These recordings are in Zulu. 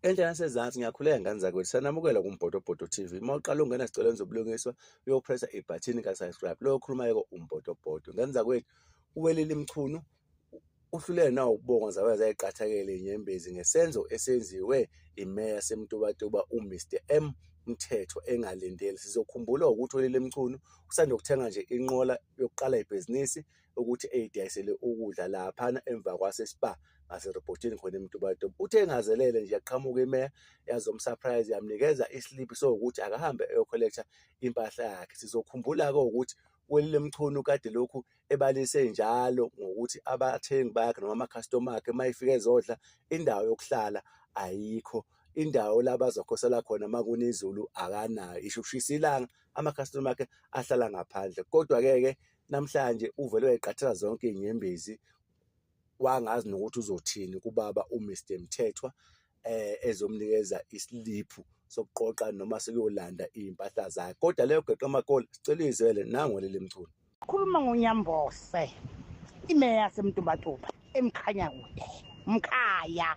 Enhle nasezansi ngiyakhuleka ngane zakwethu sanamukela kuMbotoboto TV. Uma uqala ungena sicelweni zobulungiswa uyopressa ibhathini ka subscribe. Lo okhuluma yeko uMbotoboto. Ngane zakwethu uwelile imchunu uhlulele nawo ukubonga zabe zayiqathakele inyembezi ngesenzo esenziwe imeya yaseMtubatuba uMr M Mthetho engalindeli. Sizokhumbula ukuthi uwelile imchunu usanda kuthenga nje inqola yokuqala ibhizinisi ukuthi eyidayisele ukudla laphana emva kwasespa ngaserobhothini khona emtubatuba uthe engazelele nje yaqhamuka imeya yazomsurprise yamnikeza islip sokuthi akahambe eyokholektha impahla yakhe sizokhumbula-ke ukuthi welile mchunu kade lokhu ebalise njalo ngokuthi abathengi bakhe noma amakhastoma akhe uma efika ezodla indawo yokuhlala ayikho indawo la bazokhosela khona uma kuna izulu akanayo isho ukushisa ilanga amakhastoma akhe ahlala ngaphandle kodwa-ke ke namhlanje uvele wayiqathela zonke iy'nyembezi wangazi nokuthi uzothini kubaba uMr Mthethwa eh ezomnikeza isiliphu sokuqoqa noma sekuyolanda iy'mpahla zakhe kodwa leyo geqa amakola sicela izwele nango leli mculo khuluma ngonyambose imeya yasemtubatuba emkhanya kude mkhaya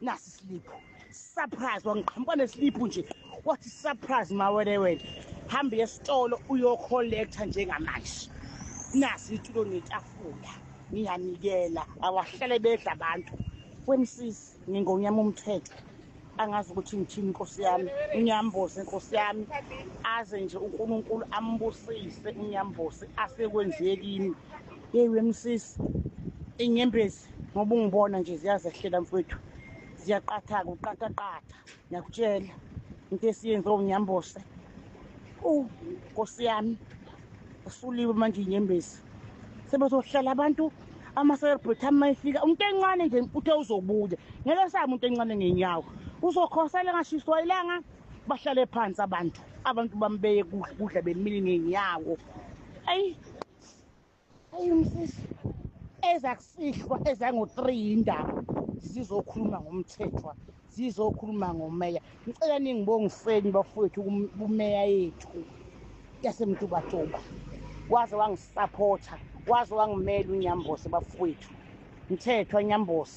nasi isiliphu surprise wangiqhamuka nesiliphu nje wathi surprise mawele wena hambe esitolo uyocollector njengamanje nasi itulo netafula ngiyanikela awahlale bedla abantu wemsisi ngingonyama umthetho angazi ukuthi ngithini inkosi yami unyambosi inkosi yami aze nje unkulunkulu ambusise unyambosi asekwenzekini yeyi wemsisi inyembezi ngoba ungibona nje ziyazehlela mfowethu ziyaqatha-ke uqathaqatha ngiyakutshela into esiyenze unyambose u nkosi yami usuliwe manje inyembezi sebezohlala abantu ama-celebrity ama efika umuntu encane nje uthe uzobuya ngeke sabe umuntu encane ngenyawo uzokhosela engashiswa ilanga bahlale phansi abantu abantu bambeye kudla bemile ngenyawo eyi ayi umsisi ezakusihlwa ezango-3 yindaba zizokhuluma ngomthethwa zizokhuluma ngomeya ngicela ningibongiseni bafowethu kumeya yethu yasemtubatuba waze wangisaphotha waze wangimela unyambose bafowethu mthethwa nyambose